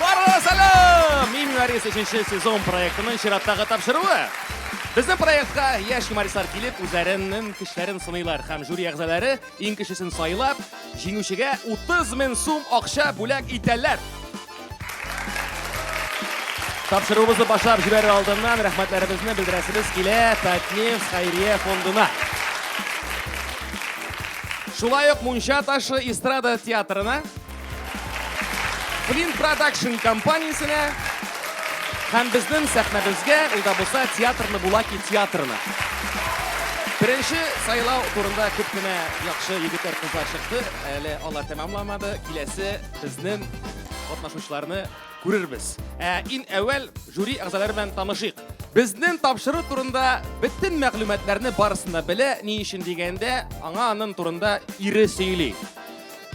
Барлыгы сәлам! Мин Юарис 3 сезон проектының чираттагы тапшыруы. Безнең проектка яшь юмористлар килеп, үзләренең кешеләрен сыныйлар һәм жюри әгъзалары иң кешесен сайлап, җиңүчегә 30 мең сум акча бүләк итәләр. Тапшыруыбызны башлап җибәрер алдыннан рәхмәтләребезне белдерәсебез килә Татнефть хәйрия фондына. Шулай ук Мунча ташы эстрада театрына, Flint Production компаниясенә һәм безнең сәхнәбезгә, ул да булса театрны Булаки театрына. Беренче сайлау турында күп кенә яхшы егетләр, кызлар чыкты. Әле алар тәмамламады. Киләсе Сезнең катнашучыларны күрербез. Ә ин әүвәл жюри әгъзалары белән танышыйк. Безнең тапшыру турында бөтен мәгълүматларны барысында белә, ни өчен дигәндә, аңа аның турында ире сөйли.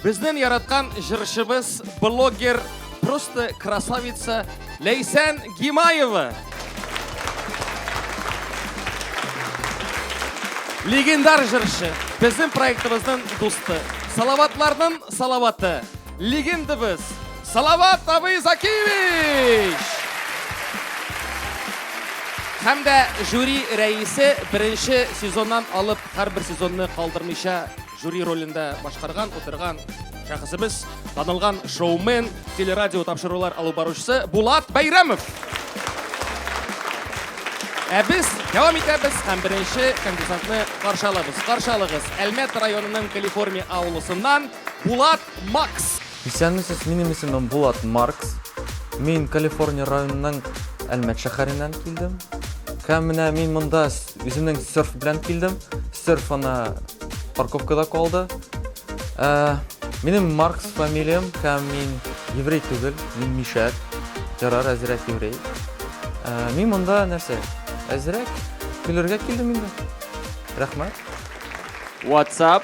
Безнең яраткан җырчыбыз, блогер, просто красавица Ләйсән Гимаева. Легендар жыршы. Безнең проектыбызның дусты. Салаватларның салаваты. Легендабыз. Салават Абый Закиевич! Һәм дә жюри рәисе беренче сезоннан алып һәрбер сезонны калдырмыйча Жюри ролен дә башкарган, утырган шәхесебез, танылган шоумен, телерадио тапшырулар алып баручысы Булат Бәйрәмов. Ә без дәвам итәбез һәм беренче конкурсантны каршы алабыз. Каршы алыгыз, Әлмәт районының Калифорния авылысыннан Булат Макс. Исәнмесез, минем исемем Булат Маркс. Мин Калифорния районының Әлмәт шәһәреннән килдем. Һәм менә мин монда үземнең серф белән килдем. Серф ана парковкада калды. Ә, минем Маркс фамилиям һәм мин еврей түгел, мин мишәк. Ярар, әзрәк еврей. Ә, мин монда нәрсә? Әзрәк көлергә килдем инде. Рәхмәт. WhatsApp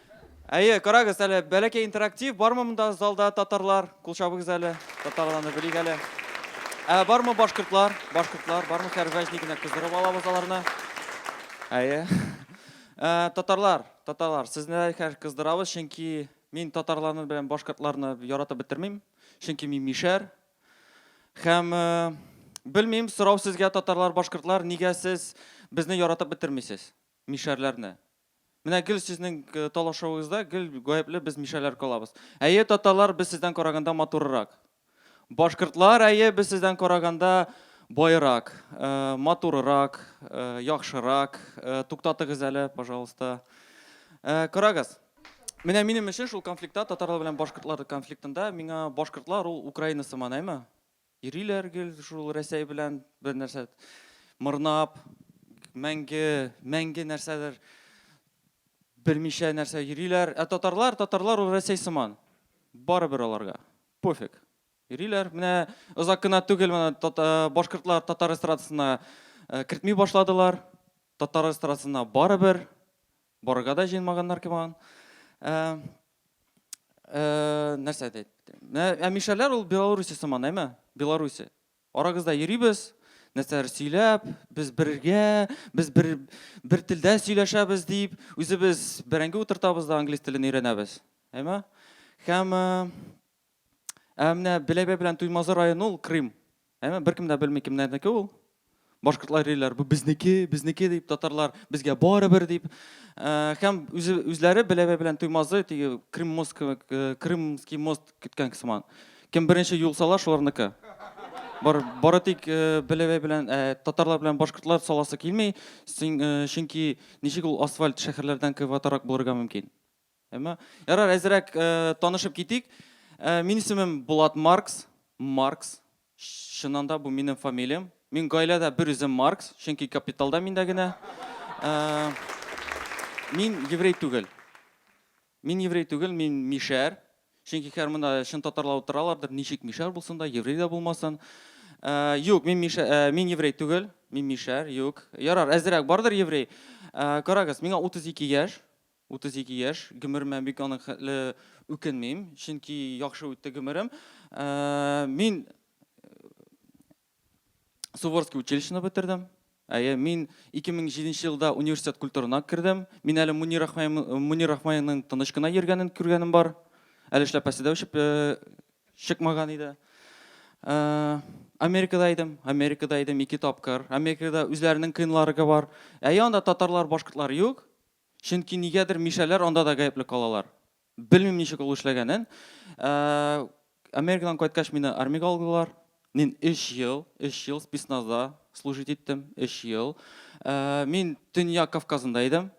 Әйе, карагыз әле, бәләкәй интерактив, бармы монда залда татарлар? Кул чабыгыз әле, татарларны белик әле. Ә бармы башкортлар? Башкортлар, бармы хәрвәҗни генә кыздырып алабыз аларны. Әйе. Ә, татарлар, татарлар, сезне хәр кыздырабыз, чөнки мин татарларны белән башкортларны яратып бетермим, чөнки мин мишәр. Һәм э, белмим, сорау сезгә татарлар, башкортлар, нигә сез безне яратып бетермисез? Мишәрләрне. Менә гел сезнең талашуыгызда гел гаепле без мишәрләр калабыз. Әйе, татарлар без сездән караганда матурырак. Башкортлар, әйе, без сездән караганда баерак, матурырак, яхшырак. Туктатыгыз әле, пожалуйста. Карагыз. Менә минем өчен шул конфликтта, татарлар белән башкортлар конфликтында, миңа башкортлар ул Украина сыман, әйме? Йөриләр гел шул Рәсәй белән бер нәрсә мырнап, мәңге, мәңге нәрсәдер белмичә нәрсә йөриләр. Ә татарлар, татарлар ул Рәсәй сыман. Барыбер аларга. Пофиг. Йөриләр. Менә озак кына түгел менә башкортлар татар эстрадасына э, кертми башладылар. Татар эстрадасына барыбер барырга да җыенмаганнар кебан. Э, Э, нәрсә әйтә иттем? Ә мишәләр ул Белоруссия сыман, әйме? Белоруссия. Арагызда йөрибез, нәрсәләр сөйләп, без бергә, без бер, бер телдә сөйләшәбез дип, үзебез бәрәңге утыртабыз да англис телен өйрәнәбез. Әйме? Һәм э, Ә менә Беләбәй белән Туймазы районы ул Крым. Әмма беркем дә белми кемнәрнеке ул. Башкортлар йөриләр, бу безнеке, безнеке дип татарлар, безгә барыбер дип. Ә, һәм үзе, үзләре Беләбәй белән Туймазы теге Крым мост кебек, э, Крымский мост көткән сыман. Кем беренче юлсала, шуларныкы. Бар, бары тик э, Беләбәй белән э, татарлар белән башкортлар саласы килми, син- э, чөнки ничек ул асфальт шәһәрләрдән кыйбатрак булырга мөмкин? Әмма ярар әзерәк танышып китик. Мин исемем Булат Маркс, Маркс. Чыннан да бу минем фамилиям. Мин гаиләдә бер үзем Маркс, чөнки капиталда миндә генә. Мин еврей түгел. Мин еврей түгел, мин мишәр. Чөнки хәзер монда чын татарлар утыралардыр, ничек мишәр булсын да, еврей дә булмасын. Э, юк, мин мишә, э, мин еврей түгел, мин мишәр, юк. Ярар, әзерәк бардыр еврей. Э, карагыз, миңа 32 яшь. 32 яшь, гомеремә бик аның хәтле үкенмим, чөнки яхшы үтте гомерем. Мин Суворский училищены бетердем. Әйе, мин 2007 елда университет культурына кердем. Мин әле Мунир Рахмаевның тыныч кына йөргәнен күргәнем бар. Әле эшләпәсе дә үчеп чыкмаган иде. Америкада идем, Америкада идем ике тапкыр. Америкада үзләренең кыйнларыгы бар. Әйе, анда татарлар, башкортлар юк. Чөнки нигәдер мишәләр анда да гаепле калалар. Белмим ничек ул эшләгәнен. Ә, Америкадан кайткач мине армиягә алдылар. Мин 3 ел, 3 ел спецназда служить иттем, 3 ел. Ә, мин Төньяк Кавказында идем.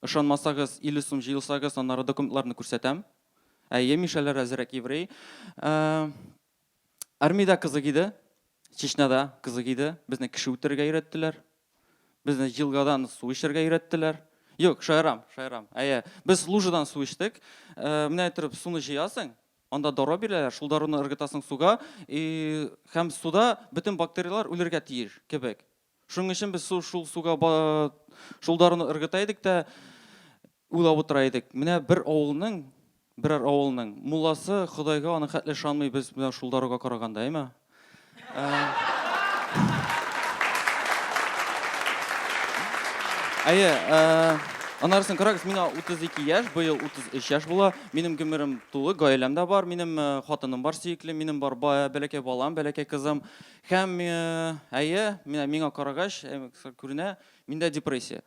Ышанмасагыз, 50 сум җыелсагыз, аннары документларны күрсәтәм. Әйе, мишәләр әзрәк еврей. Ә, Армиядә кызык иде, Чечняда кызык иде. Безне кеше үтерергә өйрәттеләр. Безне елгадан су эчәргә өйрәттеләр. Юк, шаярам, шаярам. Әйе, без лужадан су эчтек. Э, менә әйтеп, суны җыясың, анда дару бирәләр, шул даруны ыргытасың суга, и һәм суда бөтен бактерияләр үлергә тиеш кебек. Шуның өчен без су, шул суга шул даруны ыргыта идек тә уйлап утыра идек. Менә бер авылның, берәр авылның мулласы Ходайга аны хәтле ышанмый без менә шул даруга караганда, әйме? Әйе, Анарсын карагыз, мина 32 яш, быел 33 яш була. Минем гомерем тулы, гаиләм дә бар, минем э, хатыным бар сөекле, минем бар бәләкәй балам, бәләкәй кызым. Һәм, әйе, менә миңа карагач, күренә, миндә депрессия.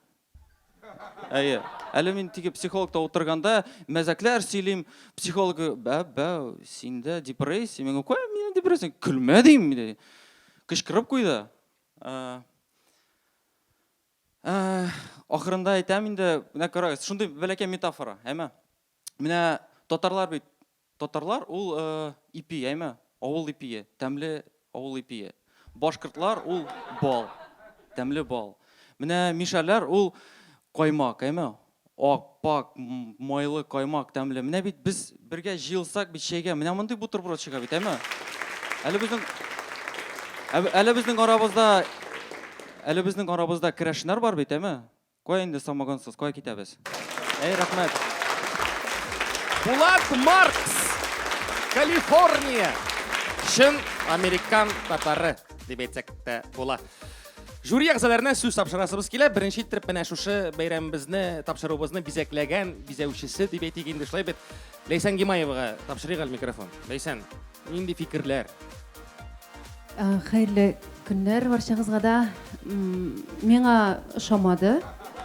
Әйе. Әле мин теге психологта утырганда мәзәкләр сөйлим, психолог, бә, бә, синдә депрессия, миңа куя, миндә депрессия, көлмә дим, ди. Кычкырып куйды. Ә, ә, ахырында әйтәм инде, менә карагыз, шундый бәләкәй метафора, әмма. Менә татарлар бит Татарлар ул ипи, яме, авыл ипие, тәмле авыл ипие. Башкортлар ул бал, тәмле бал. Менә мишәрләр ул каймак, яме, ак, пак, майлы каймак, тәмле. Менә бит без бергә җыелсак бит чәйгә, менә мондый бутерброд чыга бит, яме. Әле безнең, әле безнең арабызда, әле безнең арабызда керәшеннәр бар бит, яме. Кая инде самогонсыз, кая китәбез? Әй, рәхмәт! Булат Маркс, Калифорния. Чын американ татары, дип әйтсәк тә була. Жюри әгъзаларына сүз тапшырасыбыз килә. Беренче иттереп менә шушы бәйрәмебезне, тапшыруыбызны бизәкләгән бизәүчесе дип әйтик инде шулай бит. Ләйсән Гимаевага тапшырыйк әле микрофон. Ләйсән, нинди фикерләр? Хәерле көннәр барчагызга да. Миңа ошамады.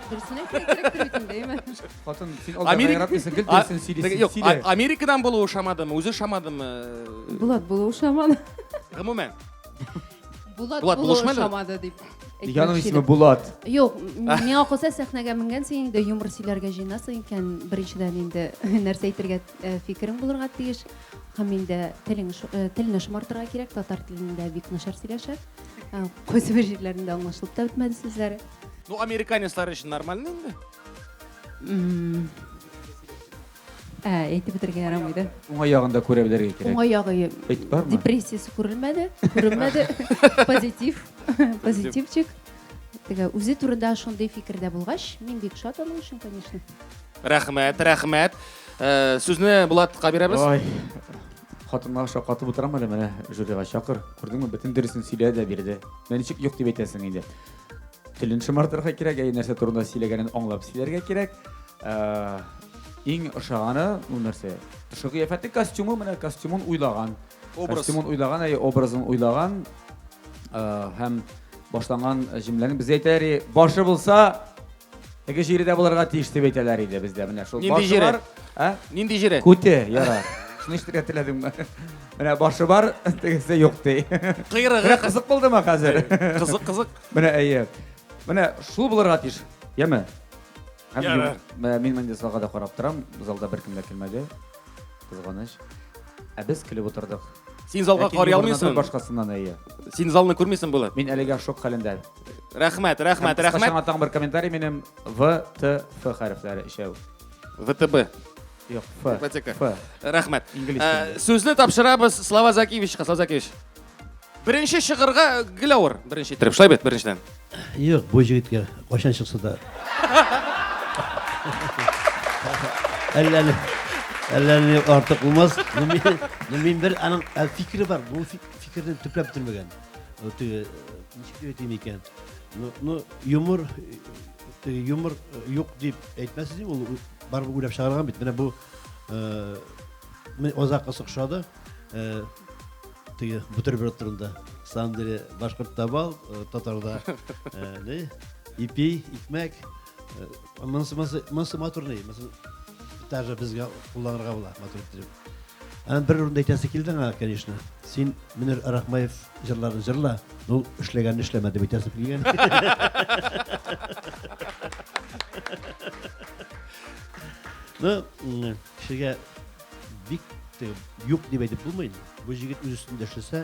Дөресен әйтергә кирәктер бит инде, әйме? Хатын, син алда Америка- гайратмыйсың, гел дөресен А- сөйлисең. Юк, Сөйлә. А- Америкадан булуы ошамадымы, үзе ошамадымы? Булат булу ошамады. Гомумән. Булат, Булат, булу булышмады? ошамады дип. әйтмәкче Яның идем. исеме Булат. Юк, м- миңа калса сәхнәгә менгәнсең инде юмор сөйләргә җыенасың икән, беренчедән инде нәрсә әйтергә э, фикерең булырга тиеш. Һәм инде телең шу- э, телне шомартырга кирәк, татар телендә бик начар сөйләшә. Э, Кайсы бер җирләрендә аңлашылып та бетмәде сүзләре. Ну, американецлар өчен нормально инде. М, Ә, әйтеп бетергә ярамый да. Уңай ягын да күрә белергә кирәк. Уңай ягы Эт бармы? депрессиясе күрелмәде, күренмәде. Позитив, позитивчик. Теге үзе турында шундый фикердә булгач, мин бик шат аның өчен, конечно. Рәхмәт, рәхмәт. Э, Сүзне Булатка бирәбез. Ой, хатынга шаккатып утырам әле менә жюрига чакыр. Күрдеңме, бөтен дөресен сөйләде дә бирде. Менә ничек юк дип әйтәсең инде. Телен шомартырга кирәк, әй нәрсә турында сөйләгәнен аңлап сөйләргә кирәк. Ә, Иң ошаганы ул нәрсә? Тышы кыяфәте, костюмы, менә костюмын уйлаган. Образ. Костюмын уйлаган, әй образын уйлаган. Ә, Һәм башланган җөмләнең без әйтәри, башы булса, Теге җире дә булырга тиеш дип әйтәләр иде бездә. Менә шул Нинди җире? бар. Ә? Нинди җире? Күте, яра. Шуны ишетергә теләдеңме? Менә башы бар, тегесе юк ди. Кыйрыгы. Менә кызык булдымы хәзер? Кызык, кызык. Менә әйе. Менә шул булырга тиеш. Яме? Һәм Яра. ю- Менә мин менде залга да карап торам. Залда беркем дә килмәде. Кызганыч. Ә без килеп утырдык. Син залга Ләкин карый югарыдан алмыйсың. Башкасыннан әйе. Син залны күрмисең, Булат. Мин әлегә шок хәлендә. Рәхмәт, рәхмәт, рәхмәт. Кысқача тагын бер комментарий минем В, Т, Ф хәрефләре ишәү. ВТБ. Юк, Ф. Ипотека. Ф. Рәхмәт. Инглиз Ә, телендә. Сүзне тапшырабыз Слава Закевичка. Слава Закевич. Беренче чыгырга гел авыр. Беренче иттереп. Шулай бит, беренчедән. Юк, бу җегеткә кайчан чыкса да. Әллә ни- әллә ни артык булмас. Ну, мин- ну, мин бер аның ә, фикере бар. Бу фи- фикерне төпләп бетермәгән. Теге ничек дип әйтим икән? Ну, ну юмор теге юмор юк дип әйтмәсез ди, ул барыбер уйлап чыгарган бит. Менә бу э озак ошады. Э теге бутерброд турында. Самом деле, башкорт табал, татарда э, ипи, икмәк, Монысы, монысы, монысы матур ни? Монысы даже безгә кулланырга була, матур итеп. Һәм бер урында әйтәсе килде аңа, конечно. Син Мөнир Рахмаев җырларын җырла, ну эшләгәнне эшләмә дип әйтәсе килгән. Ну, кешегә бик юк дип әйтеп булмый. Бу җегет үз өстендә эшләсә,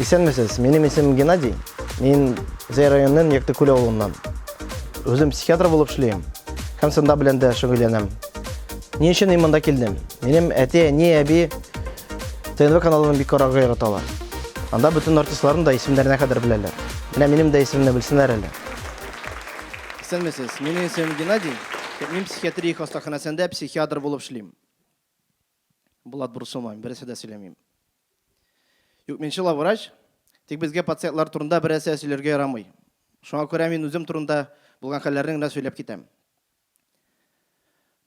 Исәнмесез, минем исемем Геннадий. Мин Зәй районының Яктыкүл авылыннан. Үзем психиатр булып эшлим. Һәм сында белән дә шөгыльләнәм. Ни өчен мин монда килдем? Минем әти, әни, әби ТНВ каналын бик карарга яраталар. Анда бөтен артистларны да исемнәренә кадәр беләләр. Менә минем дә исемне белсеннәр әле. Исәнмесез, минем исемем Геннадий. Мин психиатрия хастаханәсендә психиатр булып эшлим. Булат Бурсуман, бересе дә сөйләмим. Юк, мин чыла врач, тик безгә пациентлар турында берәсә сөйләргә ярамый. Шуңа күрә мин үзем турында булган хәлләрне генә сөйләп китәм.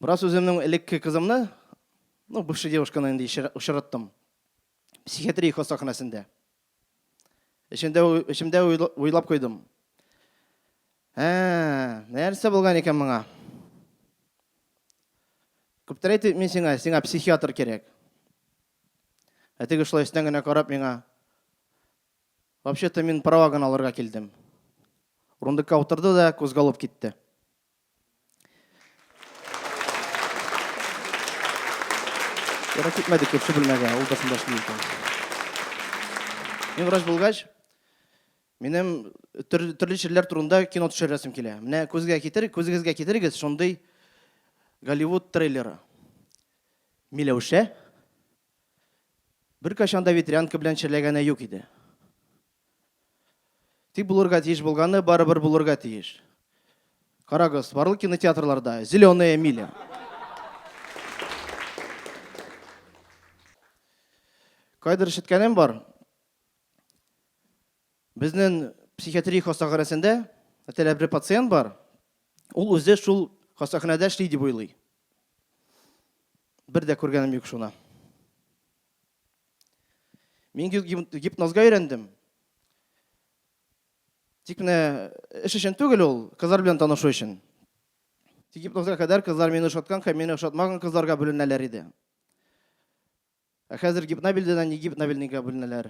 Бераз үземнең элекке кызымны, ну, бывшая девушканы инде очраттым. Психиатрия хастаханәсендә. Эчемдә эчемдә уйлап куйдым. Ә, нәрсә булган икән моңа? Күптән әйтеп мин сиңа, сиңа психиатр кирәк. Ә теге шулай өстән генә карап миңа. Вообще-то мин права гына алырга килдем. Урындыкка утырды да кузгалып китте. Ярак китмәде күрше бүлмәгә, ул да шунда эшли икән. Мин врач булгач, минем төрле чирләр турында кино төшерәсем килә. Менә күзгә китер, күзегезгә китерегез шундый Голливуд трейлеры. Миләүшә бер качан да ветрянка белән черләгәне юк иде. Тик булырга тиеш булганы барыбер булырга тиеш. Карагыз, барлык кинотеатрларда зеленая миля. Кайдыр ишеткәнем бар. Безнең психиатрия хастаханәсендә әтәләп бер пациент бар. Ул үзе шул хастаханәдә эшли дип уйлый. Бер дә күргәнем юк шуны. Мин гипнозга өйрәндем. Тик менә эш өчен түгел ул, кызлар белән танышу өчен. Тик гипнозга кадәр кызлар мине ошаткан һәм мине ошатмаган кызларга бүленәләр иде. Ә хәзер гипнобильдән не гипнобильнигә бүленәләр.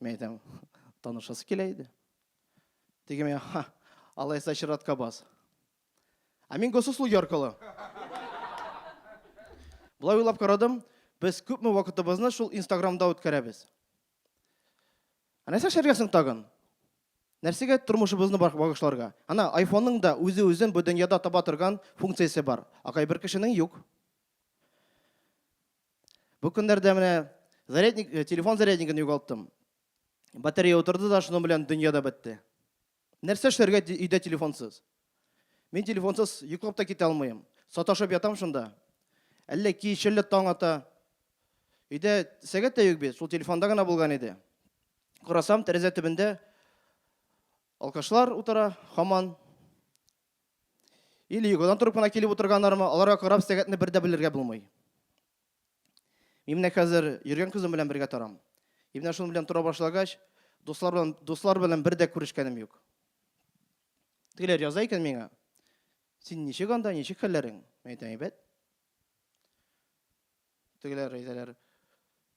Мин әйтәм, танышасы килә иде. Теге миңа, ха, алайса чиратка бас. Ә мин госуслуги аркылы. Болай уйлап карадым, без күпме вакытыбызны шул Инстаграмда үткәрәбез. Ә нәрсә эшләргә соң тагын? Нәрсәгә тормышыбызны багышларга? Ана айфонның да үзе үзен бу дөньяда таба торган функциясе бар. Акай бер кешенең юк. Бу көннәрдә менә зарядник, э, телефон заряднигын югалттым. Батарея утырды да, шуның белән дөнья да бетте. Нәрсә эшләргә өйдә телефонсыз? Мин телефонсыз йоклап та китә алмыйм. Саташып ятам шунда. Әллә кич, әллә таң ата. Өйдә сәгать тә юк бит, шул телефонда гына булган иде. Карасам, тәрәзә төбендә алкашлар утыра, хаман. Или йогадан торып кына килеп утырганнармы, аларга карап сәгатьне бер дә белергә булмый. Мин менә хәзер йөргән кызым белән бергә торам. И менә шуның белән тора башлагач, дуслар белән, дуслар белән бер дә күрешкәнем юк. Тегеләр яза икән миңа. Син ничек анда, ничек хәлләрең? Мин әйтәм, әйбәт. Тегеләр әйтәләр,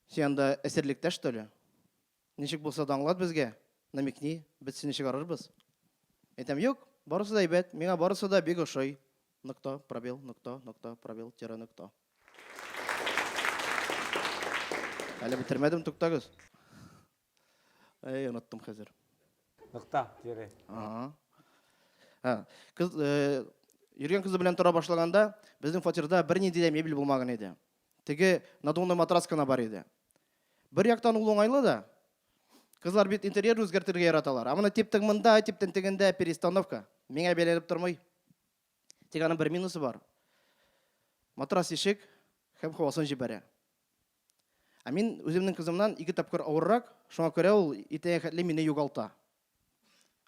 син анда әсирлектә, что ли? Ничек булса да аңлат безгә, намекни, без сине чыгарырбыз. Әйтәм, юк, барысы да әйбәт, миңа барысы да бик ошый. Нокто, пробел, нокто, нокто, пробел, тире, нокто. Әле бетермәдем, туктагыз. Әй, оныттым хәзер. Нокто, тире. Ага. Кыз, йөргән кызы белән тора башлаганда, безнең фатирда бернинди дә мебель булмаган иде. Теге надувной матрас кына бар иде. Бер яктан ул уңайлы да. Кызлар бит интерьер үзгәртергә яраталар. А моны типтең монда, типтең тегендә перестановка. Миңа бәйләнеп тормый. Тик аның бер минусы бар. Матрас ишек һәм хавасын җибәрә. Ә мин үземнең кызымнан ике тапкыр авыррак, шуңа күрә ул иртәгә хәтле мине югалта.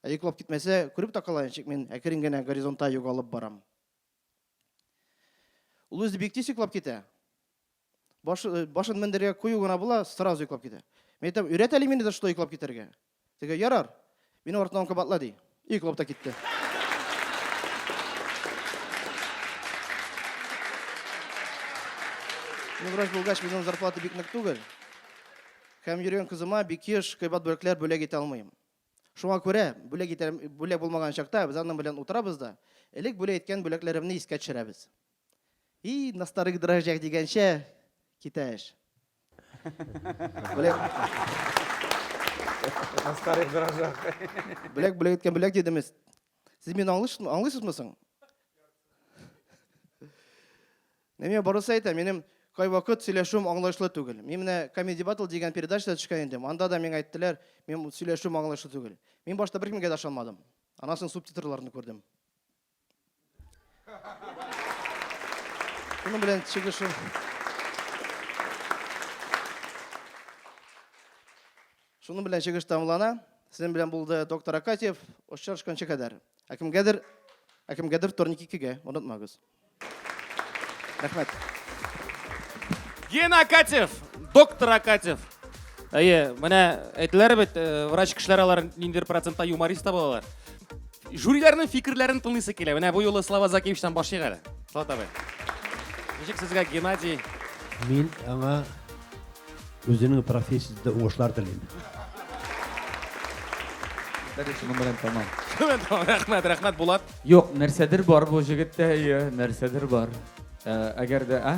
Ә йоклап китмәсә, күреп тә калаен, чик мин әкрен генә горизонтта югалып барам. Ул үзе бик тиз йоклап китә. Баш, э, башын мендергә кую гына була, сразу йоклап китә. Мин әйтәм, өйрәт әле мине дә шулай йоклап китәргә. Теге, ярар, минем артымнан кабатла, ди. И йоклап та китте. Мин врач булгач, минем зарплата бик нык түгел. Һәм йөргән кызыма бик еш кыйбат бүләкләр бүләк итә алмыйм. Шуңа күрә бүләк итәр, бүләк булмаган чакта без аның белән утырабыз да, элек бүләк иткән бүләкләремне искә төшерәбез. И, на старых дрожжах дигәнчә, китә эш. Бүләк. На старых дрожжах. Бүләк, бүләк иткән бүләк дидемез. Сез мине аңлыйсызмы, аңлыйсызмы соң? Менә мин барысы әйтәм, минем кайвакыт сөйләшүем аңлаешлы түгел. Мин менә Comedy Battle дигән передачада төшкән идем. Анда да миңа әйттеләр, минем сөйләшүем аңлаешлы түгел. Мин башта беркемгә дә ышанмадым. Аннан соң субтитрларны күрдем. Шуның белән чыгышы Шуның белән чыгыш тамлана. Сезнең белән булды доктор Акатьев. Очрашканчы кадәр. Ә кемгәдер, ә кемгәдер вторник икегә, онытмагыз. Рәхмәт. Гена Акатьев, доктор Акатьев. Әйе, менә әйтеләр бит, э, врач кешеләр алар ниндидер процентта юморист та булалар. Жюриләрнең фикерләрен тыңлыйсы килә. Менә бу юлы Слава Закиевичтан башлыйк әле. Слава абый. Ничек сезгә Геннадий? Мин аңа үзенең профессиясендә уңышлар телим. Шуның белән тамам. Шумен тамам. Рәхмәт, рәхмәт Булат. Юк, нәрсәдер бар бу җегеттә, әйе, нәрсәдер бар. Ә, Әгәр дә, а?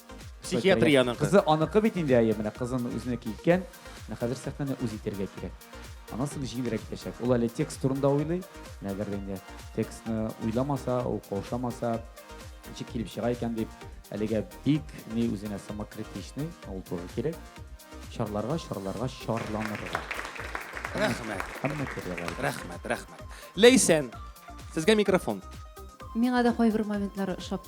Психиатрия аныкы. Кызы аныкы бит инде, әйе, менә кызын үзенә киткән. Менә хәзер сәхнәне үз итәргә кирәк. Аннан соң җиңелрәк итәчәк. Ул әле текст турында уйлый. Менә әгәр дә инде текстны уйламаса, ул каушамаса, ничек килеп чыга икән дип, әлегә бик ни үзенә самокритичный, ул туры кирәк. Чарларга, чарларга, чарланырга. Рәхмәт. Һәммә кирәк. Рәхмәт, рәхмәт. Ләйсән, сезгә микрофон. Миңа да кайбер моментлары ошап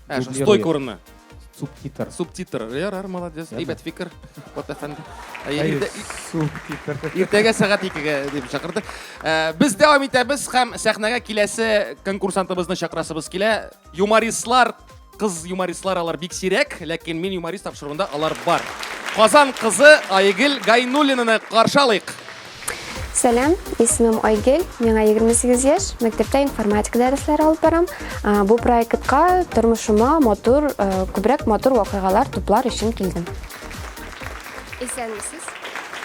Ә, шул Дублирует. стойка урыны. Субтитр. Субтитр. Ярар, молодец. Ярар. Әйбәт фикер. Вот әфәнде. Әй, Әй, иртә- субтитр. Иртәгә сәгать 2-гә дип чакырды. Ә, Без дәвам итәбез һәм сәхнәгә киләсе конкурсантыбызны чакырасыбыз килә. Юмористлар, кыз юмористлар алар бик сирәк, ләкин мин юморист тапшыруында алар бар. Казан кызы Айгөл Гайнуллинаны каршы алыйк. Сәлам, исемем Айгел, миңа 28 яшь, мәктәптә информатика дәресләре алып барам. Бу проектка тормышыма матур, күбрәк матур вакыйгалар туплар өчен килдем. Исәнмесез.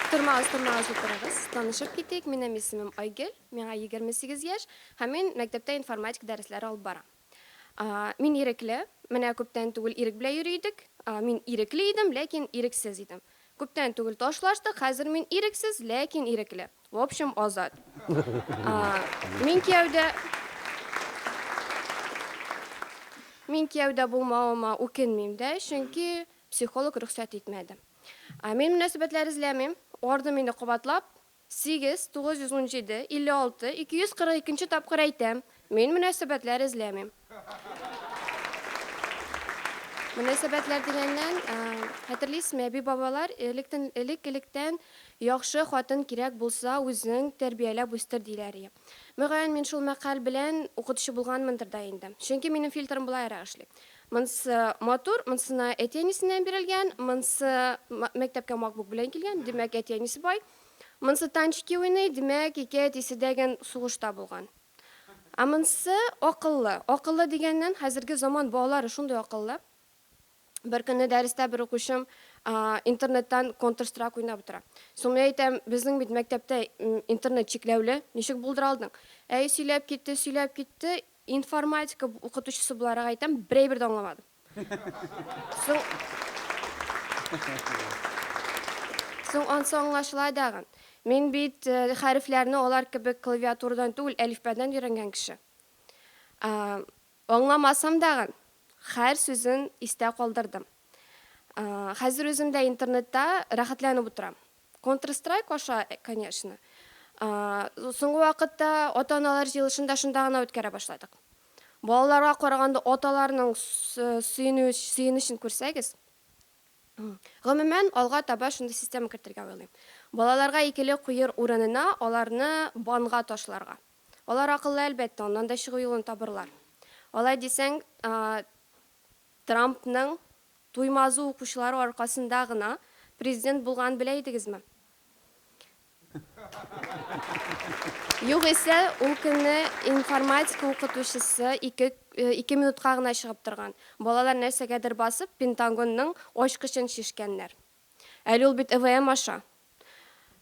Тормагыз, тормагыз утырыгыз. Танышып китик, минем исемем Айгел, миңа 28 яшь һәм мин мәктәптә информатика дәресләре алып барам. Мин ирекле. Менә күптән түгел Ирек белән йөри идек. Мин ирекле идем, ләкин ирексез идем. Күптән түгел ташлаштык, хәзер мин ирексез, ләкин ирекле. В общем, азат. Мин кияүдә Мин кияүдә булмавыма үкенмим дә, чөнки психолог рөхсәт итмәде. Мин мөнәсәбәтләр эзләмим. Ардым инде кабатлап, Сигез, тугыз йөз унҗиде, илле алты, ике йөз кырык икенче тапкыр әйтәм, мин мөнәсәбәтләр эзләмим. Мөнәсәбәтләр дигәннән, хәтерлисезме, әби-бабалар электен, элек-электән яхшы хатын кирәк булса, үзең тәрбияләп үстер, диләр ие. Мөгаен, мин шул мәкаль белән укытучы булганмындыр да инде. Чөнки минем фильтрым болайрак эшли. Монсы матур, монсына әти-әнисеннән бирелгән, монсы мәктәпкә макбук белән килгән, димәк, әти-әнисе бай. Монсы танчики уйный, димәк, ике әтисе дә гән сугышта булган. Ә монсы акыллы. Акыллы дигәннән, хәзерге заман балалары шундый акыллы. Бер көнне дәрестә бер укучым интернеттан Counter Strike уйнап утыра. Соң мин әйтәм, безнең бит мәктәптә интернет чикләүле, ничек булдыра алдың? Әй, сөйләп китте, сөйләп китте, Информатика укытучысы буларак әйтәм, бер әйбер дә аңламадым. Соң Соң ансы аңлашыла дагын. Мин бит э, хәрефләрне алар кебек клавиатурадан түгел, әлифбәдән өйрәнгән кеше. Э, аңламасам дагын, хәр сүзен истә калдырдым. Э, хәзер үзем дә интернетта рәхәтләнеп утырам. Контрстрайк аша, конечно. Соңгы вакытта ата-аналар җыелышын да шунда гына үткәрә башладык. Балаларга караганда аталарның сөенечен күрсәгез. Гомумән, алга таба шундый система кертергә уйлыйм. Балаларга икеле куер урынына аларны банга ташларга. Алар акыллы, әлбәттә, аннан да чыгу юлын табырлар. Алай дисәң, Трампның Туймазы укучылары аркасында гына президент булганын белә идегезме? Югыйсә, ул көнне информатика укытучысы ике ике минутка гына чыгып торган. Балалар нәрсәгәдер басып, Пентагонның ачкычын чишкәннәр. Әле ул бит ЭВМ аша.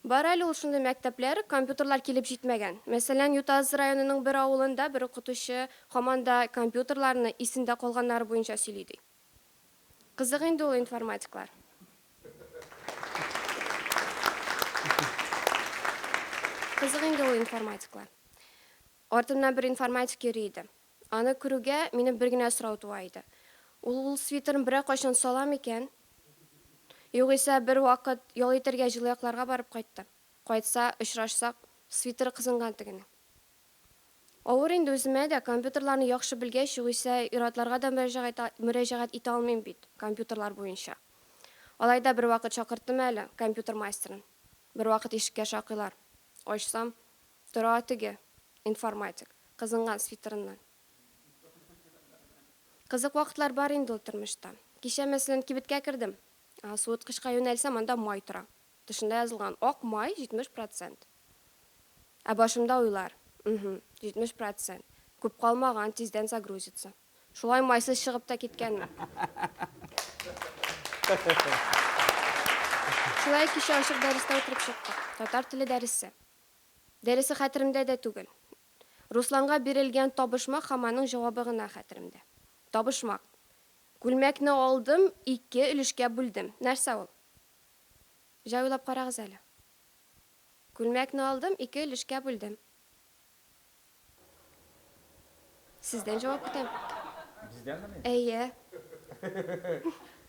Бар әле ул шундый мәктәпләр, компьютерлар килеп җитмәгән. Мәсәлән, Ютаз районының бер авылында бер укытучы һаман да компьютерларны исендә калганнары буенча сөйли, ди. Кызык инде ул информатиклар. Кызык инде ул информатиклар. Артымнан бер информатик йөри иде. Аны күрүгә, минем бер генә сорау туа иде. Ул ул свитерын берәр кайчан сала микән? Югыйсә, бер вакыт ял итәргә җылы якларга барып кайтты. Кайтса, очрашсак, свитеры кызынган тегенең. Авыр инде үземә дә, компьютерларны яхшы белгәч, югыйсә, ир-атларга да мөрәҗәгать мөрәҗәгать итә алмыйм бит, компьютерлар буенча. Алай да бервакыт чакырттым әле компьютер мастерын. Бервакыт ишеккә шакыйлар. Ачсам. Тора теге, информатик, кызынган свитерыннан. Кызык вакытлар бар инде ул тормышта. Кичә, мәсәлән, кибеткә кердем. Суыткычка юнәлсәм, анда май тора. Тышында язылган, ак май, 70 процент. Ә башымда уйлар, Мһм, 70 процент. Күп калмаган, тиздән загрузится. Шулай майсыз чыгып та киткәнмен. Шулай кичә ачык дәрестә утырып чыктык. Татар теле дәресе. Дөресе хәтеремдә дә түгел. Русланга бирелгән табышмак һәм аның җавабы гына хәтеремдә. Табышмак. Күлмәкне алдым, ике өлешкә бүлдем. Нәрсә ул? Җай уйлап карагыз әле. Күлмәкне алдым, ике өлешкә бүлдем. Сездән җавап көтәм. Бездәнме ни? Әйе.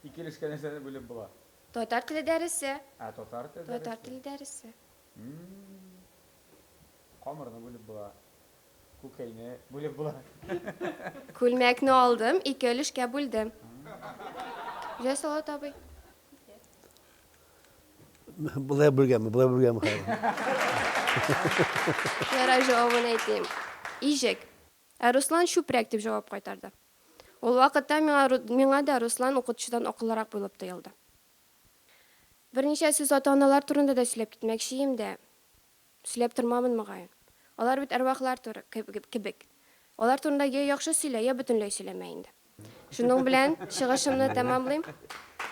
Ике өлешкә нәрсәне бүлеп була? Татар теле дәресе. Ә татар теле дәресе? Татар теле дәресе. Камырны бүлеп була. Күкәйне бүлеп була. Күлмәкне алдым, ике өлешкә бүлдем. Җәй салат абый. Былай бүлгәме, былай бүлгәме Ярай җавабын әйтим. Ижек. Ә Руслан чүпрәк дип җавап кайтарды. Ул вакытта миңа, миңа да Руслан укытучыдан акыллырак булып тоелды. Берничә сүз ата-аналар турында да сөйләп китмәкче ием дә. Сөйләп тормамын, мөгаен. Алар бит әрвахлар туры, кебек. Алар турында йә яхшы сөйлә, йә бөтенләй сөйләмә инде. Шуның белән чыгышымны тәмамлыйм.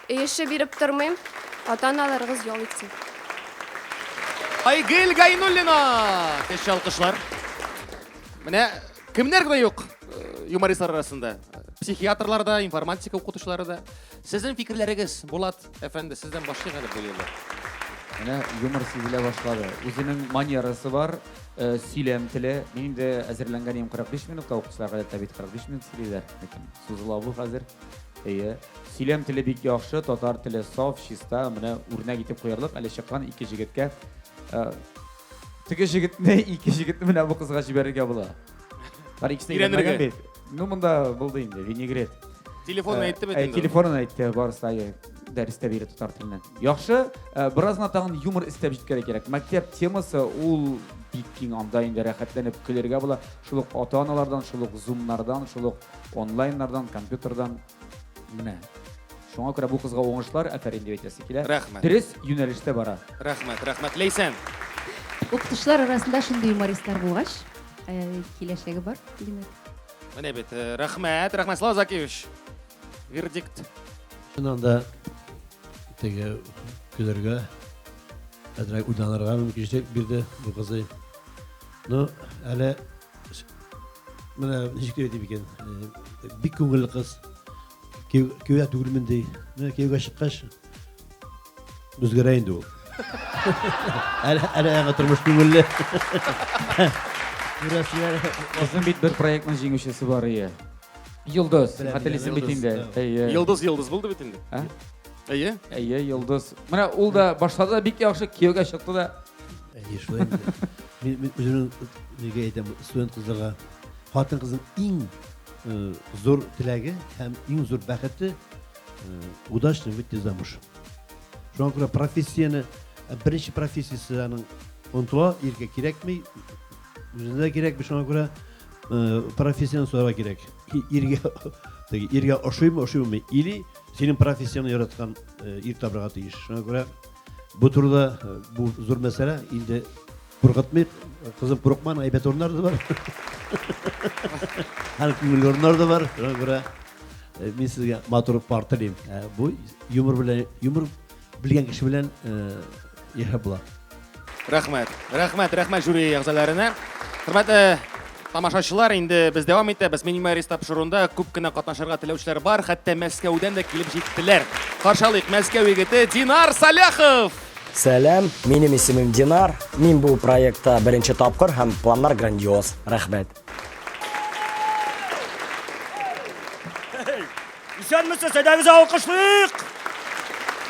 Өй эше биреп тормыйм. Ата-аналарыгыз ял итсен. Айгөл Гайнуллина! Теш алкышлар. Менә кемнәр генә юк юмористлар арасында. Психиатрлар да, информатика укытучылары да. Сезнең фикерләрегез, Булат, Әфәнде, сездән башлыйк әле бу юлы. Менә юмор сизелә башлады. Үзенең манерасы бар, э, сөйләм теле. Мин инде әзерләнгән идем 45 минутка, укучылар гадәттә бит 45 минут сөйлиләр. Ләкин сузыла бу хәзер. Әйе. Сөйләм теле бик яхшы, татар теле саф, чиста. Менә үрнәк итеп куярлык, әле чыккан ике җегеткә. Э, Теге җегетне, ике җегетне менә бу кызга җибәрергә була. Бар икесе Өйрәнергә. өйрәнмәгән бит. Ну, монда булды инде, винегрет. Телефонын Э, әйтте бит э, инде. Телефонын әйтте, барысы да э, дәрестә бирде татар теленнән. Яхшы, э, беразна тагын юмор эстәп җиткәле кирәк. Мәктәп темасы ул бик киң, анда инде рәхәтләнеп көлергә була. Шул ук ата-аналардан, шул ук зумнардан, шул ук онлайннардан, компьютердан. Менә. Шуңа күрә бу кызга уңышлар, афәрин дип әйтәсе килә. Рәхмәт. Дөрес юнәлештә бара. Рәхмәт, рәхмәт. Ләйсән. Укытучылар арасында шундый юмористлар булгач, э, киләчәге бар, димәк. Менә бит, э, рәхмәт, рәхмәт, Слава Закиевич. Вердикт. Шуннан да теге көләргә, әзрәк уйланырга мөмкинчелек бирде бу кызый. Ну, әле Менә ничек дип әйтим икән, э, бик күңелле кыз. Кияүгә түгелмен ди. Менә кияүгә чыккач үзгәрә инде ул. Әле әле яңа тормыш күңелле. Күрәсезләр. Озын бит бер проектның җиңүчесе бар ие. Йолдыз, хәтерлисең бит инде. Әйе. Йолдыз йолдыз булды бит инде. Ә? Әйе. Әйе, йолдыз. Менә ул да башлады да бик яхшы кияүгә чыкты да. Әйе, шулай. Мин, мин үземнең нигә әйтәм, студент кызларга хатын кызның иң э, зур теләге һәм иң зур бәхете э, удачно выйти замуж. Шуңа күрә профессияне э, беренче профессиясе аның онытыла, иргә кирәкми, үзенә дә кирәкми, шуңа күрә э, профессияне сорарга кирәк. И- Иргә теге иргә ошыймы, ошыймы или синең профессияне яраткан э, ир табарга тиеш. Шуңа күрә Бу турыда бу зур мәсьәлә инде куркытмыйк. Кызым курыкман, әйбәт урыннар да бар. Һәр күңелле урыннар да бар. Шуңа күрә мин сезгә матур пар телим. Бу юмор белән, юмор белгән кеше белән яшәп була. Рәхмәт. Рәхмәт, рәхмәт жюри әгъзаларына. Хөрмәтле Тамашачылар, инде без дәвам итәбез. Минимарис тапшыруында күп кенә катнашырга теләүчеләр бар, хәтта Мәскәүдән дә килеп җиттеләр. Каршы алыйк, Мәскәү егете Динар Саляхов! Сәлам, минем исемем Динар. Мин бу проектта беренче тапкыр һәм планнар грандиоз. Рәхмәт. Исәнмесез, әйдәгез алкышлыйк!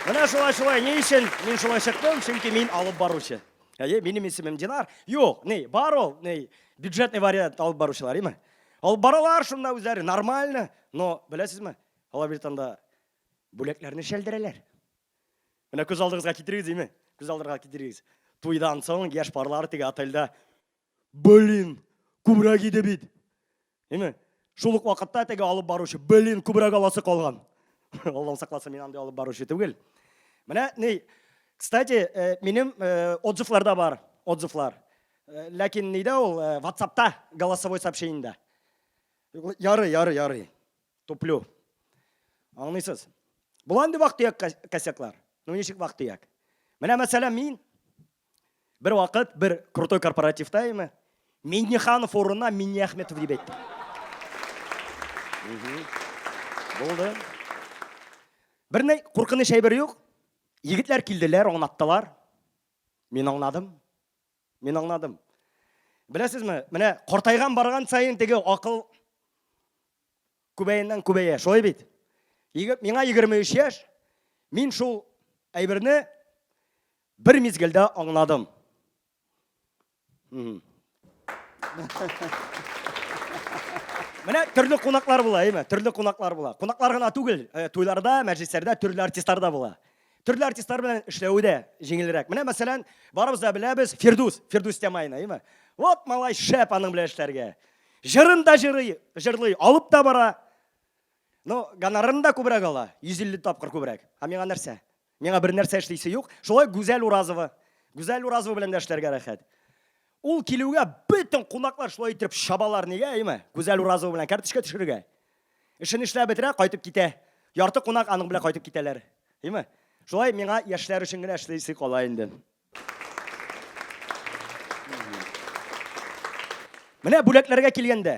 Менә шулай-шулай, ни өчен мин шулай чыктым, чөнки мин алып баручы. Әйе, минем исемем Динар. Юк, ни, бар ул, ни, бюджетный вариант алып баручылар, име? Алып баралар шунда үзләре, нормально. Но, беләсезме, алар бит анда бүләкләрне шәлдерәләр. Менә күз алдыгызга китерегез, име? Күз алдыгызга китерегез. Туйдан соң яшь парлар теге отельдә Блин, күбрәк иде бит. Әйме? Шул ук вакытта теге алып баручы, блин, күбрәк аласы калган. Аллам сакласын, мин андый алып баручы түгел. Менә ни, кстати, э, минем э, отзывларда бар, отзывлар. Э, ләкин нидә ул WhatsAppта голосовой сообщениедә. Ярый, ярый, ярый. Туплю. Аңлыйсыз? Буланды вакыт төяк косяклар. Ну ничек вакыт төяк? Менә мәсәлән мин Бер вакыт бер крутой корпоративта имә Минниханов урынына Минниәхметов дип әйтте. Булды. Бер ни куркыныч әйбер юк. Егетләр килделәр, аңлаттылар. Мин аңладым. Мин аңладым. Беләсезме, менә картайган барган саен теге акыл күбәеннән күбәя, шулай бит. Миңа 23 яшь. Мин шул әйберне Бер мизгелдә аңладым. Менә төрле кунаклар була, әйме? Төрле кунаклар була. Кунаклар гына түгел, э, туйларда, мәҗлесләрдә төрле артистлар да була. Төрле артистлар белән эшләве дә җиңелрәк. Менә мәсәлән, барыбыз да беләбез Фирдус, Фирдус Тямайны, әйме? Вот малай шәп аның белән эшләргә. Җырын да җырый, җырлый, алып та бара. Ну, гонорарын да күбрәк ала, 150 тапкыр күбрәк. Ә миңа нәрсә? Миңа бер нәрсә эшлисе юк. Шулай Гүзәл Уразова. Гүзәл Уразова белән дә эшләргә рәхәт. Ул килүгә бөтен кунаклар шулай итеп чабалар нигә, әйме? Гүзәл Уразова белән карточка төшерергә. Эшен эшләп бетерә, кайтып китә. Ярты кунак аның белән кайтып китәләр. Әйме? Шулай миңа яшьләр өчен генә эшлисе кала инде. Менә бүләкләргә килгәндә,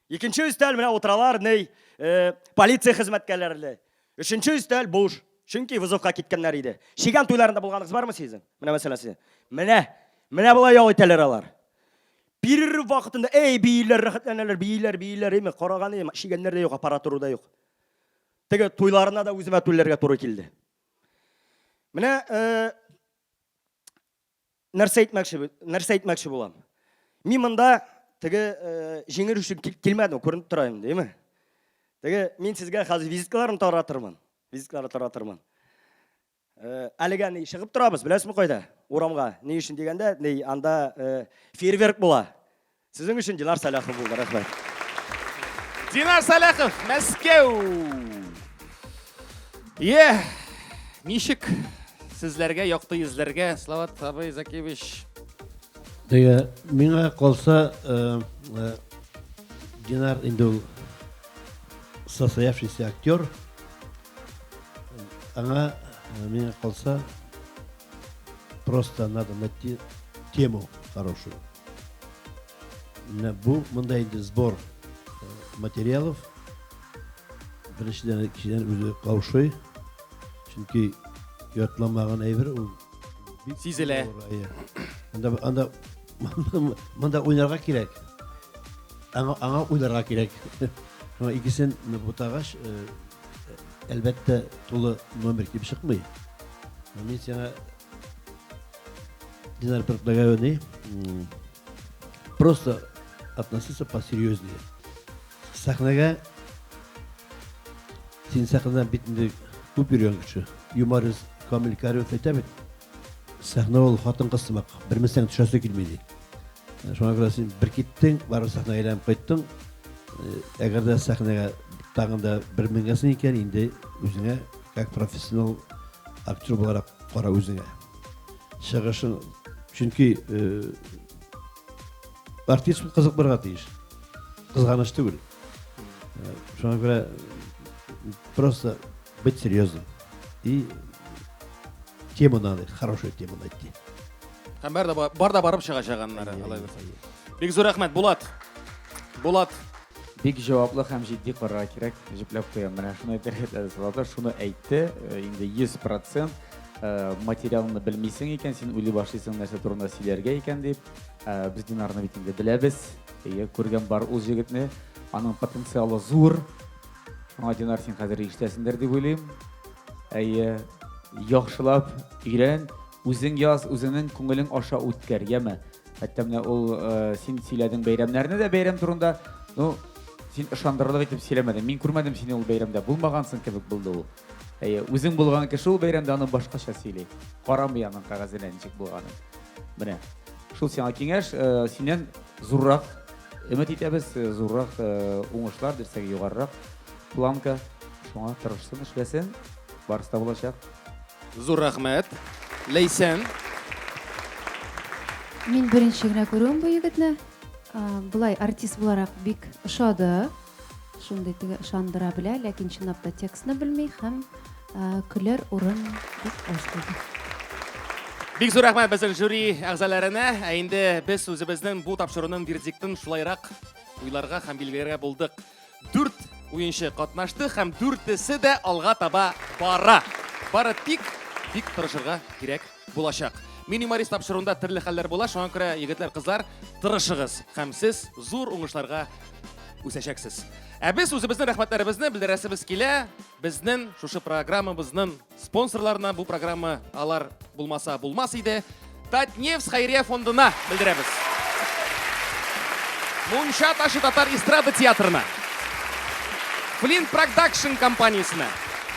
Икенче өстәл менә утыралар, ней, э, полиция хезмәткәрләре. Өченче өстәл буш. Чөнки вызовка киткәннәр иде. Чигән туйларында булганыгыз бармы сезнең? Менә мәсьәлә сезнең. Менә, менә болай ял итәләр алар. Перерыв вакытында, эй, бииләр, рәхәтләнәләр, бииләр, бииләр, име, караган ием, чигәннәр дә юк, аппаратура да юк. Теге туйларына да үземә түләргә туры килде. Менә э, Нәрсә әйтмәкче, нәрсә әйтмәкче булам? Мин монда теге э, җиңел өчен килмәдем, күренеп тора инде, әйме? Теге мин сезгә хәзер визиткаларын таратырмын. Визиткалар таратырмын. Э, әлегә ни чыгып торабыз, беләсезме кайда? Урамга. Ни өчен дигәндә, ни анда э, фейерверк була. Сезнең өчен Динар Сәләхов булды. Рәхмәт. Динар Сәләхов, Мәскәү. Е, ничек сезләргә якты йөзләргә, Слават абый Закевич. Әйе, миңа калса, э, э, Динар инде ул состоявшийся актер. Аңа, э, миңа калса, Просто надо найти тему хорошую. Бу монда инде сбор э, материалов. Беренчедән кешедән үзе каушый. Чөнки ятламаган әйбер ул сизелә. Анда анда монда уйнарга кирәк. Аңа аңа уйларга кирәк. Икесен бутагач э, Әлбәттә, тулы номер килеп чыкмый. Мин сиңа Динар предлагаю просто относиться посерьезнее. Сәхнәгә син сәхнәдән бит инде күп йөргән кеше. Юморист Камил Кариев әйтә бит, Сәхнә ул хатын-кыз сымак, бермесәң төшәсе килми ди. Шуңа күрә син бер киттең, барып сәхнәгә әйләнеп кайттың. Әгәр дә сәхнәгә тагын да бер менгәсең икән, инде үзеңә как профессионал актер буларак кара үзеңә. Чыгышың, чөнки артист бу кызык булырга тиеш. Кызганыч түгел. Шуңа күрә просто быть серьезным. И тему надо, хорошую тему найти. Һәм бар да бар да барып чыгачак аннары, алай булса. Бик зур рәхмәт, Булат. Булат. Бик җаваплы һәм җитди карарга кирәк, җипләп куям. Менә шуны әйтергә теләде Салата, шуны әйтте, э, инде 100% э, материалны белмисең икән, син уйлый башлыйсың нәрсә турында сөйләргә икән дип. Э, без Динарны бит инде беләбез. Әйе, күргән бар ул җегетне. Аның потенциалы зур. Аңа Динар син хәзер ишетәсендер дип уйлыйм. Әйе, яхшылап өйрән, үзең яз, үзеңнең күңелең аша үткәр, яме. Хәтта менә ул э, син сөйләдең бәйрәмнәрне дә бәйрәм турында. Ну, син ышандырырлык итеп сөйләмәдең. Мин күрмәдем сине ул бәйрәмдә. Булмагансың кебек булды ул. Әйе, үзең булган кеше ул бәйрәмдә аны башкача сөйли. Карамый аның кәгазенә ничек булганын. Менә. Шул сиңа киңәш, э, синнән зуррак Өмет итәбез, зуррак уңышлар, дөресрәге, югарырак планка. Шуңа тырышсын, эшләсен, барысы да булачак. Зур рәхмәт. Ләйсән. Мин беренче генә күрүем бу егетне. Болай артист буларак бик ошады. Шундый теге ышандыра белә, ләкин чынлап та текстны белми һәм көләр урын бик аз булды. Бик зур рәхмәт безнең жюри әгъзаларына. Ә инде без үзебезнең бу тапшыруның вердиктын шулайрак уйларга һәм билгеләргә булдык. Дүрт уенчы катнашты һәм дүртесе дә алга таба бара. Бары тик бик тырышырга кирәк. Булачак. Мин юморист тапшыруында төрле хәлләр була, шуңа күрә егетләр, кызлар, тырышыгыз һәм сез зур уңышларга үсәчәксез. Ә без үзебезнең рәхмәтләребезне белдерәсебез килә. Безнең шушы программабызның спонсорларына бу программа алар булмаса булмас иде. Татнефть хәйрия фондына белдерәбез. Мунча ташы татар эстрада театрына. Флинт продакшн компаниясенә.